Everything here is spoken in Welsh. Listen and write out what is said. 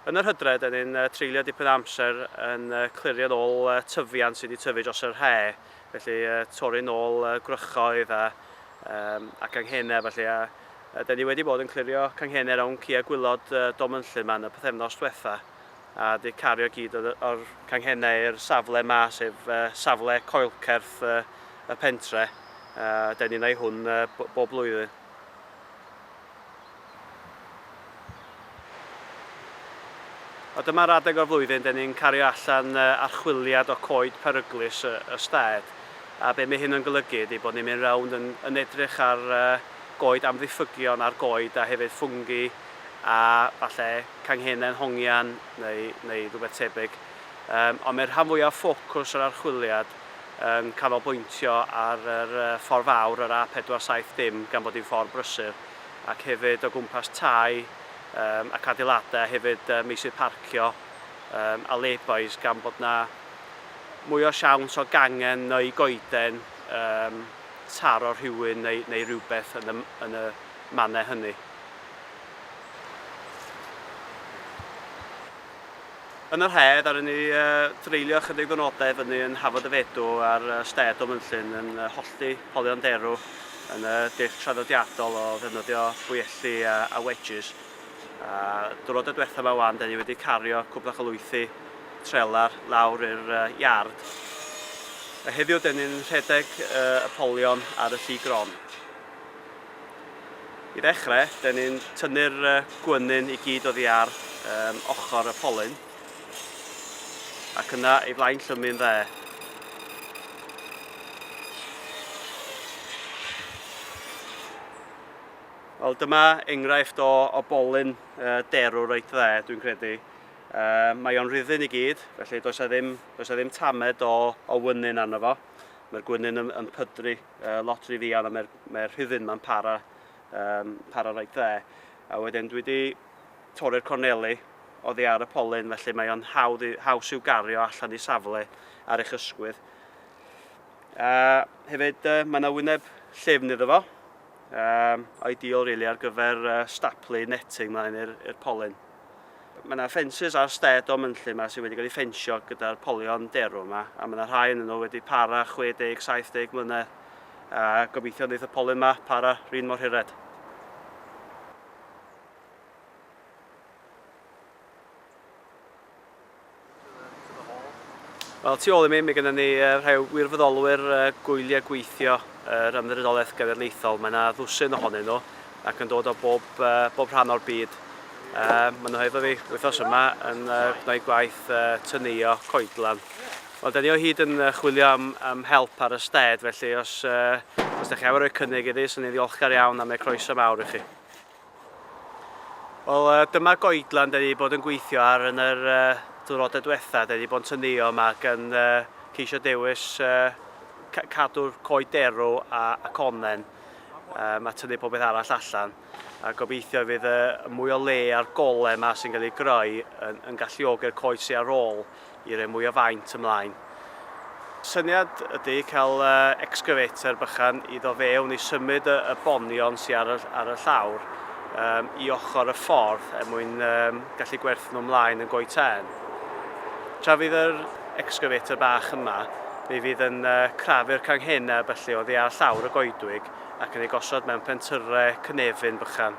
Yn yr hydref, dan ni'n treulio dipyn o amser yn clirio'n ôl tyfiant sydd wedi tyfu dros yr he', felly torri'n ôl gwrychoedd a a ganghenau a ballu, a dan ni wedi bod yn clirio canghenau rownd ciau gwylod Dom Ynllŷn yma yn y pythefnos diwetha', a wedi cario gyd o'r o'r canghenau i'r safle yma, sef safle coelcerth y pentre', dan ni'n ei hwn bob blwyddyn. A dyma'r adeg o'r flwyddyn dyn ni'n cario allan archwiliad o coed peryglus y stad, a be mae hyn yn golygu ydy bod ni'n mynd rownd yn yn edrych ar goed amddiffygion a'r goed a hefyd ffwngi a falle canghennau'n hongian neu neu rhywbeth tebyg. Yym ond mae'r rhan fwyaf o ffocws yr archwiliad yn canolbwyntio ar yr ffordd fawr, yr A470, gan bod hi'n ffordd brysur, ac hefyd o gwmpas tai ac adeiladau, a hefyd meysydd parcio a lay-bys, gan bod yna mwy o siawns o gangen neu goeden taro rhywun neu, neu rhywbeth yn y, yn y mannau hynny. Yn yr haf, ddaru ni dreulio ychydig ddwrnodau i fyny yn Hafod y Fedw ar stêd o Fynllyn yn hollti polion derw yn y dull traddodiadol o ddefnyddio bwyelli a, a wedges. A dwrnod y diwethaf yma wan, da ni wedi cario cwbl o chylwythi trelar lawr i'r iard. A heddiw, da ni'n rhedeg y polion ar y lli gron. I ddechrau, dyn ni'n tynnu'r gwenyn i gyd oddi ar um, ochr y polyn ac yna ei flaen llymu'n dde. Wel, dyma enghraifft o, o bolyn uh, derw reit dde, dwi'n credu. Uh, mae o'n rhyddyn i gyd, felly does a ddim, does a ddim tamed o, o wynyn arno fo. Mae'r gwynyn yn, yn pydru uh, lot rhy ddian a mae'r mae rhifyn ma'n para, um, para rhaid dde. A wedyn dwi wedi torri'r corneli oddi ar y polyn, felly mae o'n hawdd, haws i'w gario allan i safle ar eich ysgwydd. A hefyd, uh, mae yna wyneb llyfn iddo fo, um, ideal really ar gyfer uh, staplu netting mlaen i'r polyn. Mae yna ffensys ar stêd o mynllyn yma sydd wedi cael ei ffensio gyda'r polion derw yma, a mae yna rhai yn nhw wedi para 60, 70 mlynedd, a gobeithio wneud y polyn yma para rhin mor hired. Wel, tu ôl i mi, mae gennym ni rhai wirfoddolwyr gwyliau gweithio yr Ymddiriedolaeth Genedlaethol. Mae yna ddwsin ohonyn nhw ac yn dod o bob, bob rhan o'r byd. Maen nhw hefo fi wythnos yma yn gwneud gwaith tynuio coedlan. Wel, da ni o hyd yn chwilio am, am help ar y sted, felly os, os da chi am roi cynnig iddi, sy'n ni'n ddiolchgar iawn am ei croeso mawr i chi. Wel, uh, dyma goedlan da ni wedi bod yn gweithio ar yn yr uh, diwrnodau diwetha. Da ni wedi bod yn tynnu yma ac yn uh, ceisio dewis uh, cadw'r coed derw a, a connen um, a tynnu popeth arall allan. A gobeithio fydd y mwy o le a'r gole yma sy'n cael ei greu yn, yn galluogi'r coed sy'n ar ôl i roi mwy o faint ymlaen. Syniad ydy cael excavator bychan i ddo fewn i symud y, y bonion sy'n ar y, ar y llawr um, i ochr y ffordd er mwyn um, gallu gwerthu nhw ymlaen yn goi tân. Tra fydd yr excavator bach yma, mi fydd yn uh, crafu'r canghenau felly o ddiar llawr y goedwig ac yn ei gosod mewn pentyre cynefin bychan.